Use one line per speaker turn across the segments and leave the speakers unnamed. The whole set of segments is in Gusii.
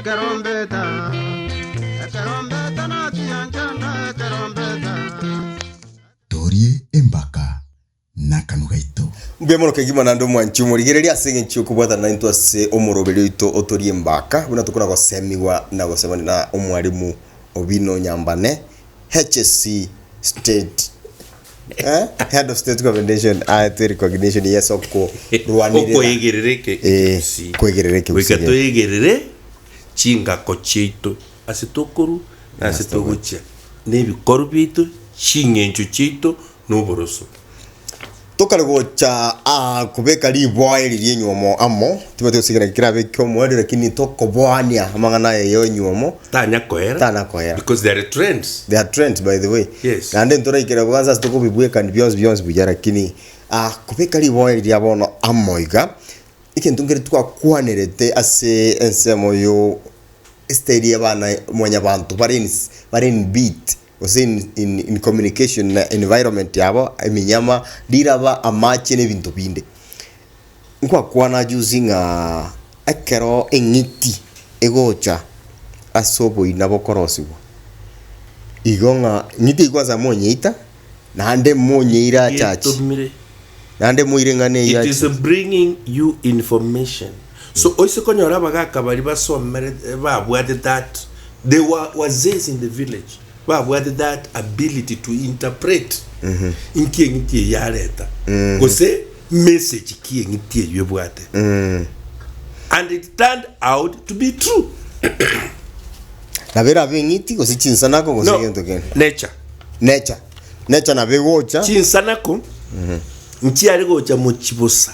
Ekerombeta, ekerombeta nachiya nchanda ekerombeta. Torie embaka n'akanwa gaito. Mbwemono kegima
naende omwanchi omorigereria ase engencho y'okobwatana naintwe ase omoroberi oito o Torie Embaka, buna tokona gosemigwa na gosemania na Omwalimu Obino Nyambane, HSC, State. Eh, head of state commendation aetwe recognition yes okorwanirira okoegerera
eke Eh, ekegusii koegerera ekegusii
goika gete. toegerere
chingako chiaito ase tokorwa na ase togochia na ebikorwa biaito ching'encho chiaito na oboroso
Tokare gocha aa kobeka riboa eri ri'enyuomo amo, tibwati gose ekero kerabe eki'omoerio, lakini tokoboania amang'ana aye y'enyuomo, Tanya koera. Tana
koera. Because they are trends. They are trends by the way. Yes.
Naende ntoraikera
kwanza ase
tokobibwekani bionsi bionsi buya lakini ah, kobeka ribono eri ria bono amo iga egento nkere twakwanerete ase ensemo yo esiteri y'abana mwanyabanto bare in s- bare in beat gose in in in communication na environment yabo, eminyama, riraba, amache na ebinto binde. Nkwakwana juzi ng'a ekero eng'iti egocha ase oboina bokorosigwa, igo ng'a eng'iti eye kwansa monyeita, naende monyeire achache, naende moire eng'ana eyio It is ache. bringing
you information. So oise konyora abagaka baria basomere babwate that the wa, wazees in the village babwate that ability to interpret inki eng'iti eye yareta gose message ki eng'iti eyio ebwate and it turned out to be true
Nabo erabe eng'iti gose chinsanako gose no egento kende. nature Nature. Nature nabo egocha. chinsanako
nchiare gocha mochibosa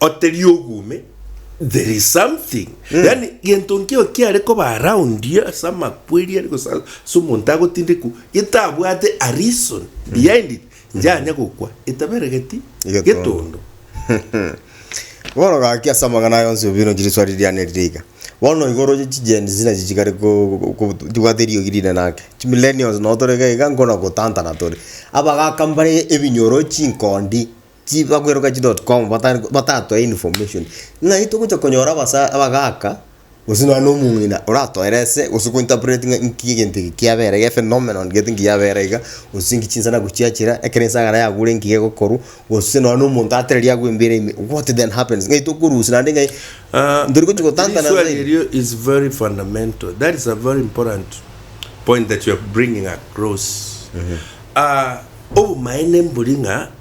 Oteri ogume there is something yaani gento nkio kiare koba around ye ase amakweri are gose ase omonto agotindekwa getabwate a reason behind it yanya gokwa etaberegeti getondo.
Bono gaki ase amang'ana aya onsi obiro nchi riswari riane eri riga. Bono igo oroche chi Gen Z nachi chikare ko- ko- ko- tibwate eriogi rinene ake. Chi Millennials noo tore iga iga nkona gotantana tore. Abagaka mbare ebinyoro chinkondi. chibakweroka chidotcom batari batatoe information, ng'ai togocha konyora abasa abagaka gose nonye na omong'ina oratoera ese gose gointerpreti ng'a nki egento eke kiabera iga ephenomenon gete nki yabera iga, gose nki chinsanaku chiachera, ekero ensagera yagure nki gegokorwa, gose nonye na omonto atereri agwo embira ime what then happens ng'ai tokorusia naende ng'ai ntori gochi gotangtana Riswali zaidi. erio is very
fundamental, that is a very important point that you are bringing across, ah obomaene mbori ng'a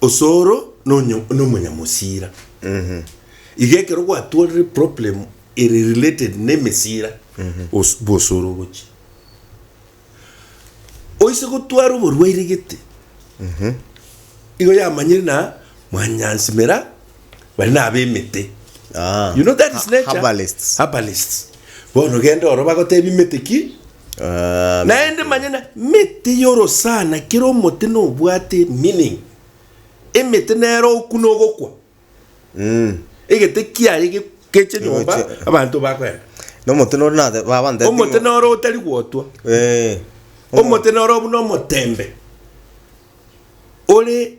Osoro nonya nomonyamosira. Iga ekero gwatwarire problem ere related ne emesira os bwosoro ogochia. Oise gotwara oborwaire gete igo yamanyire na mwanyansimera bari nabemete Ah, you know that is ha- nature herbalists. herbalists bono genda oro bagotebi mete ki Ah, naende manye na mete yorosana kera omote nobwate meaning emete nero okuna ogokwa mm. egete kiaye ge- geche nyomba Geche. abanto bakwenda
nomote nori nate baba ntete omote ng'a- noro otari gwotwa
Eh. omote noro buna omotembe ore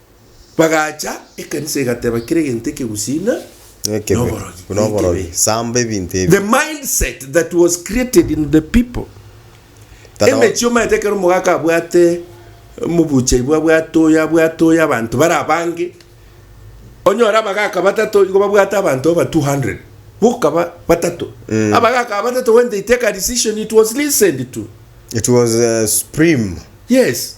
Bagacha, ekanisa egateba kera egento ekegusi na noborogi nekebe. The mindset that was created in the people. Emechie omanyete ekero omogaka abwate mobucha ibo abwate oyo abwate oyo abanto bare abange, onyore abagaka batato igo babwate abanto aba 200 boka batato. Abagaka aba batato when they take a decision it was listened to. It was
supreme. Yes.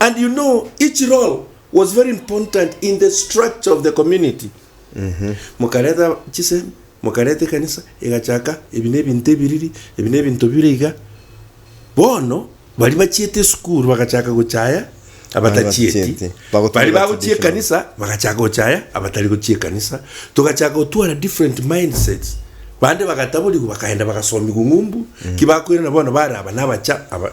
and you know each role was very important in the structure of the community mokareta chisemi mokareta ekanisa egachaka ebi na ebinto ebiriri ebi na ebinto bire iga bono bari bachiete esukuru bagachaka gochaya abatachieti Abatachieti. Bagotuma bari bagochia abachieti ekanisa bagachaka gochaya abatari gochia ekanisa togachaka gotwara different mindsets bande bagataborigwa bakaenda bagasomigwa ng'umbu ki bakoirana bono bare aba nabacha aba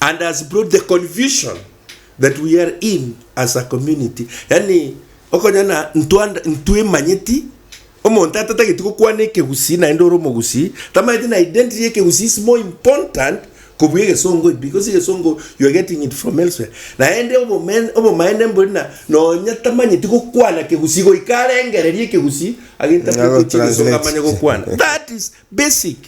and has brought the confusion that we are in as a community. Yani okonyana ntwanda ntwimanyeti omonto atatageti gokwana ekegusii naende ore omogusii tamanyeti na identity ekegusii is more important kobua egesongo because egesongo you are getting it from elsewhere naende obomen obomaene mbori na nonya tamanyeti gokwana kegusii goika arengererie ekegusii agente Ng'ago akoeche egesongo translate. amanye gokwana that is basic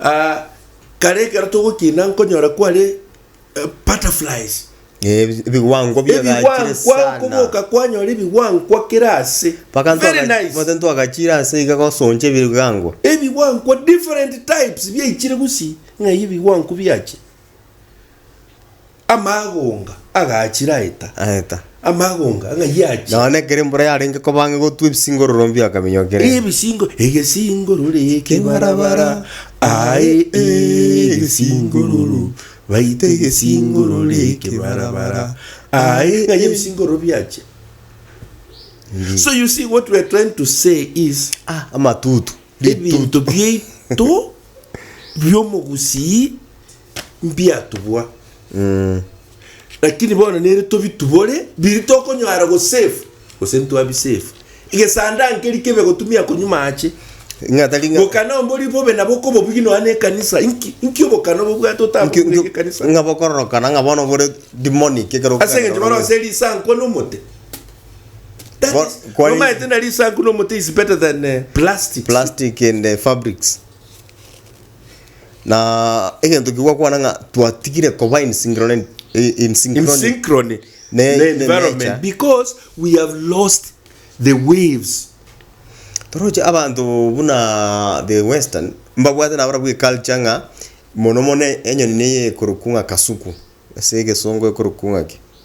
Ah, kare ekero togokina nkonyora kware eh, butterflies Eh, ebi-
ebigwango biagachire ebigwankwa sana okoboka kwanyora ebigwankwa
kera ase Mpaka very ntwaga- nice mote ntwagachire ase
iga gosoncha ebigangwa ebigwankwa
different types biaichire gusi ng'ai ebigwankwa biache Amaagonga agachire aeta. Aeta. Amaagonga ng'ai achire? Nonya nekero embura yarenge
koba ang'e gotwa ebisingororo mbio akaminyokerera. Ebisingo,
egesingororo ekebarabara, aye egesingororo, baita egesingororo ekebarabara, aye ng'ai ebisingororo biachire? Indeed. So you see what we are trying to say is Ah, amatutu.
ebinto
biaito bi'omogusii mbiatubwa. Lakini bono nere tobitubore biri tokonyara gosave gose ntwabisave. Egesanda nkeri kebe gotumia konywa maache. Ng'a tari ng'a-
Bokana ombori bobe
na bokobo bugi nonya na ekanisa. Inki inki obokana obo bwate otakobugia ekanisa? ng'a bokororokana ng'a bono
bore demonic ekero Ase eng'encho bono ase
risankwa nomote. That Bo- is- kwa nini? nomaete na risankwa nomote is better than eh, plastic. plastic and eh, fabrics
Na egento ki gwakwana ng'a twatigire koba in synchrony in in synchrony synchrony ne ne the environment
nature. because we have lost the waves. Toroche
abanto buna the western mbabwate nabo barabwo eculture ng'a mono mono enyoni neye ekorokwa ng'a kasuku, ase egesongo ekorokwa ng'a ki?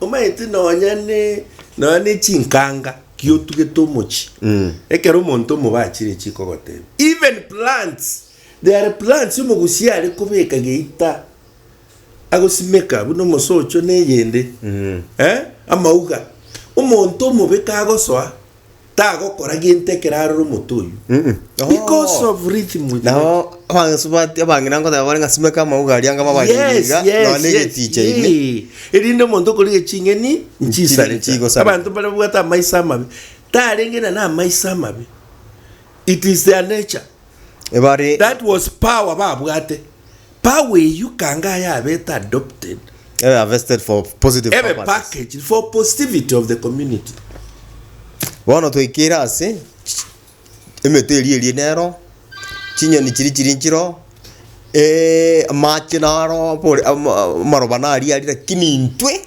Omanyete nonya ne nonya ne chinkanga kiotugete omochi mm. ekero omonto omobe achire echi kogoteba even plants there are plants omogusia are kobeka geita agosimeka buna omosocho neyende mm. eh? amauga omonto omobe kagosoa tagokora gento ekero aroro omote oyio. Because of rhythm with Nabo nature. abanso
bati- abang'ina nkoteba bare ng'a simeka amauga aria nga babarie Yes, riga, yes, nonye yes, egeticha ime. yee. Erinde omonto okorige
ching'eni nchisareka nchigosareka. abanto baria babwate amaiso amabe tarenge na amaiso amabe it is their nature ebare.
That was power
babwate, power eyio kanga yabete adopted, Ebe harvested
for positive ebe purposes. packaged for
positivity of the community.
Bono twaikire ase emete eria erie nero chinyoni chiri chiri nchiro eh, amache naro bore ama- amaroba naria aria lakini intwe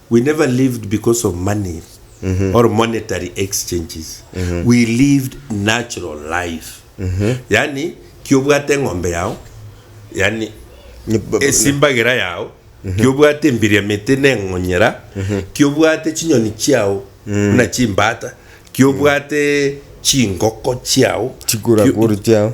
We never lived because of money or monetary exchanges, we lived natural life, yaani ki obwate eng'ombe yao, yaani esimbagera yao, ki obwate embiriamete na eng'onyera, ki obwate chinyoni chiao buna chimbata, ki obwate chingoko chiao, Chikura ki- kori chiao.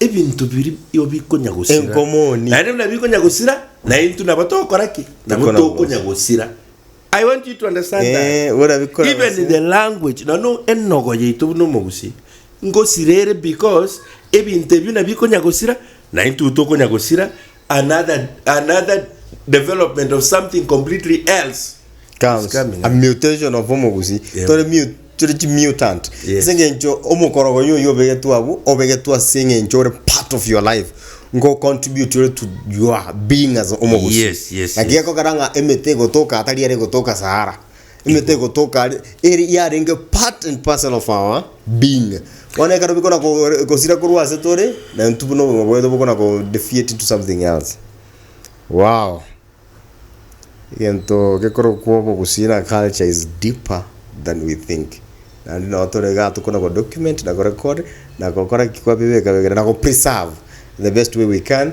Ebinto biria bikonya gosira. Enkomoni. Naende buna
bikonya gosira,
na intwe nabo tokora ki? Nabo Tokona tokonya gosira. I want you to understand that. Eh, buna bikora Even gosira. the language, nono enogo yaito buna omogusii, ngosira ere because ebinto ebi buna bikonya gosira, na intwe tokonya gosira, another another development of something completely else comes is coming a
up. mutation of omogusi Yeah. tore mu- tore chi mutant Yes. ase eng'encho omokorogo yo oyo obegetwe abwo obegetwe ase eng'encho ore part of your life ngo contribute ore to your being as omogusi Yes, yes, Naki yes. gekogera
ng'a emete
egotoka atari ere egotoka sahara Emetego tokari ere yarenge part and parcel of our being. Bono ekero bikona kogore gosira korwa ase tore, na intwe buna obogima bwaito bokona ko deviate into something else. Wow! Egento gekorokwa obogusii na culture is deeper than we think. Naende nabo tore igaa tokona ko document na ko record na gokora ki kwabebeka begera na go preserve the best way we can.